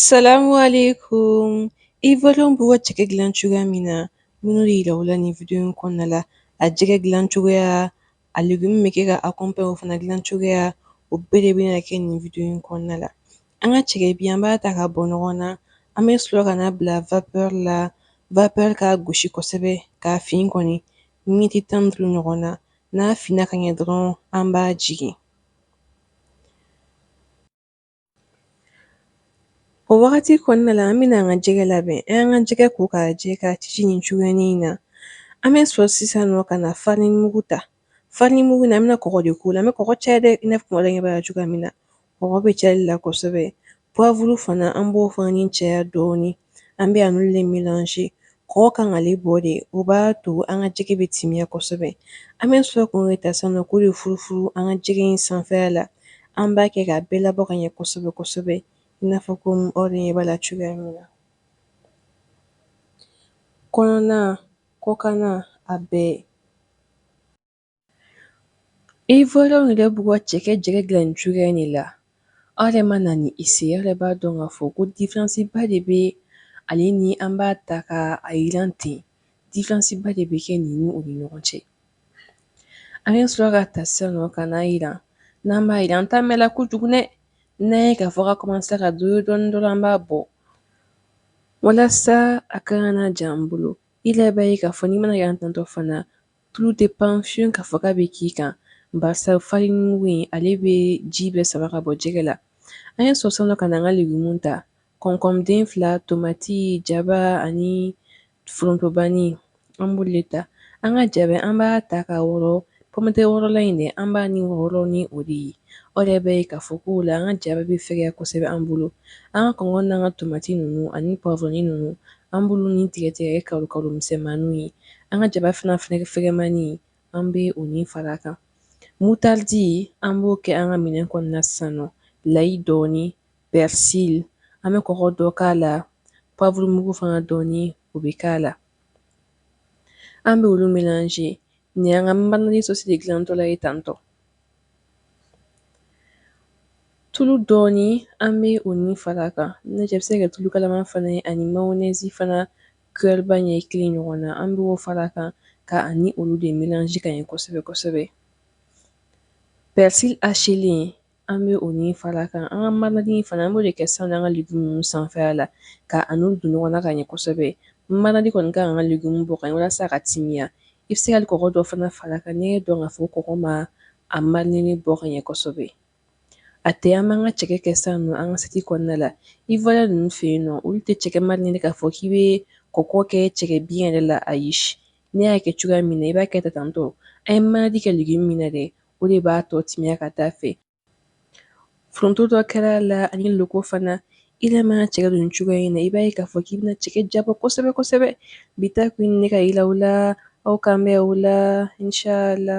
Salamu alaikum ivoiriens b'u ka cɛkɛ dilan cogoya min na n bɛn'o de yira aw la nin video in kɔnɔna la a jɛgɛ dilan cogoya a legumu bɛ kɛ ka accompagner o fana dilan cogoya o bɛɛ de bɛna kɛ nin video in kɔnɔna la an ka cɛkɛ bi an b'a ta ka bɔ ɲɔgɔn na an bɛ sɔrɔ ka n'a bila vapeur la vapeur k'a gosi kosɛbɛ k'a fin kɔni miniti tan ni duuru ɲɔgɔn na n'a finna ka ɲɛ dɔrɔn an b'a jigin O wagati kɔnɔna la an bɛna an ka jɛgɛ labɛn an y'an ka jɛgɛ ko k'a jɛ k'a ci nin cogoya in na an bɛ sɔrɔ sisan nɔ ka na farinimugu ta farinimugu na an bɛna kɔgɔ de k'o la an bɛ kɔgɔ caya dɛ i n'a fɔ aw ɲɛ b'a la cogoya min na kɔgɔ bɛ caya la kosɛbɛ Pwavuru fana an b'o fana ni caya dɔɔnin an bɛ ani olu de milanse kɔgɔ kan ale bɔ de o b'a to an ka jɛgɛ bɛ timiya kosɛbɛ an bɛ sɔrɔ k'o yɛrɛ ta sa nɔ k'o de furufuru an ka jɛgɛ in sanfɛya la an b'a kɛ k'a bɛɛ labɔ ka ɲɛ kosɛbɛ kosɛbɛ i n'a fɔ ko aw yɛrɛ ɲɛ b'a la cogoya min na kɔnɔna kɔkanna a bɛɛ Ivoiriens yɛrɛ b'u ka cɛkɛ jɛgɛ dilan nin cogoya de la aw yɛrɛ mana nin essayer aw yɛrɛ b'a dɔn k'a fɔ ko diferansiba de bɛ ale ni an b'a ta ka a yiran ten diferansiba de bɛ kɛ ninnu ni ɲɔgɔn cɛ an bɛ sɔrɔ k'a ta sa nɔ ka n'a yiran n'an b'a yiran an tɛ mɛn a la kojugu n'an y'a ye k'a fɔ ka kɔmansa ka doré dɔɔnin dɔrɔn an b'a bɔ walasa a kana ja an bolo aw yɛrɛ b'a ye k'a fɔ n'i mana a yiran tantɔ fana Tulu tɛ pan fiyewu k'a fɔ k'a bɛ k'i kan barisa farinimugu ale bɛ ji bɛɛ sama ka bɔ jɛgɛ la an bɛ sɔrɔ sa ka an ka legumu ta concombre den fila tomati jaba ani forontobani an b'olu ta an ka jaba an b'a ta ka wɔɔrɔ pomme de terre wɔɔrɔlan in de an b'a ni wɔɔrɔ ni o de ye o de bɛ ka fɔ ko la an ka jaba bɛ fɛgɛya kosɛbɛ an bolo an ka concombre an ka tomati ninnu ani poivron ninnu an b'olu ni tigɛtigɛ k'a kɛ misɛnmani ye An ka jaba fana fɛgɛfɛgɛmani an bɛ o ni fara kan mutaridi an b'o kɛ an ka minɛn kɔnɔna san layi dɔɔni pɛrisi an bɛ kɔgɔ dɔ k'a la pwavurumugu fana dɔɔni o bɛ k'a la an bɛ olu milanse nin an ka marinadi sɔsi de dilantɔla ye tantɔ tulu dɔɔni an bɛ o ni fara kan ne cɛ bɛ se ka tulu kalama fana ani mayɔnɛsi fana Kuyɛriba ɲɛ kelen ɲɔgɔn na an b'o fara kan ka ani olu de milanji ka ɲɛ kosɛbɛ kosɛbɛ pɛrisi hachélen an bɛ o ni fara kan an ka marinadi fana an b'o de kɛ san an ka legumu ninnu sanfɛya la ka ani don ɲɔgɔn na ka ɲɛ kosɛbɛ marinadi kɔni ka an ka legumu bɔ ka ɲɛ walasa a ka timiya i bɛ se ka kɔgɔ dɔ fana fara kan n'i y'a dɔn k'a fɔ kɔgɔ ma a marinadi bɔ ka ɲɛ kosɛbɛ A tɛ an b'an ka jɛgɛ kɛ sa nɔ an ka asiyɛti kɔnɔna la Ivoirien ninnu fɛ yen nɔ olu tɛ jɛgɛ mariner k'a fɔ k'i bɛ kɔgɔ kɛ jɛgɛ bi yɛrɛ la a ye ne y'a kɛ cogoya min na i b'a kɛ taa tantɔ a ye marinade kɛ dugu min na dɛ o de b'a tɔ timiya ka taa fɛ foronto dɔ kɛra a la ani loko fana i yɛrɛ mana jɛgɛ dun cogoya in na i b'a ye k'a fɔ k'i bɛna jɛgɛ diyabɔ kosɛbɛ kosɛbɛ bi ta kun ne ka yi la aw kan bɛ o la la